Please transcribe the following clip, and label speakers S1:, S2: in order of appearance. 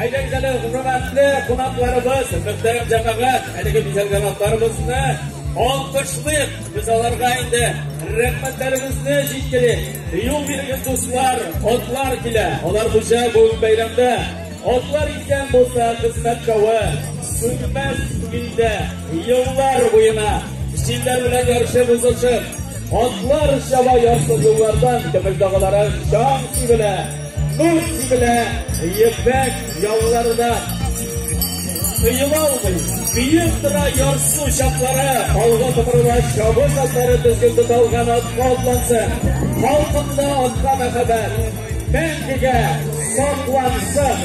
S1: Әйдәгез әле, хөрмәтле кунакларыбыз, мөхтәрәм җәмәгать, әлеге бизәлгән атларыбызны алкышлыйк. Без аларга инде рәхмәтләребезне җиткерик. Юл бирегез, дуслар, атлар килә. Алар буенча бүген бәйрәмдә атлар иткән булса, хезмәт кавы сүнмәс илдә еллар буена җилләр белән ярышып узышып, атлар чаба ярсыз юллардан көмеш дагалары чаң сибелә. Мош сибелә ефәк ялларына. Тыела алмый, биеп тора ярсу чаклары. Алга томырыла чабыш атлары тезген тота алган атка атланса. Халкымда атка мәхәббәт. Мәңгегә саклансын.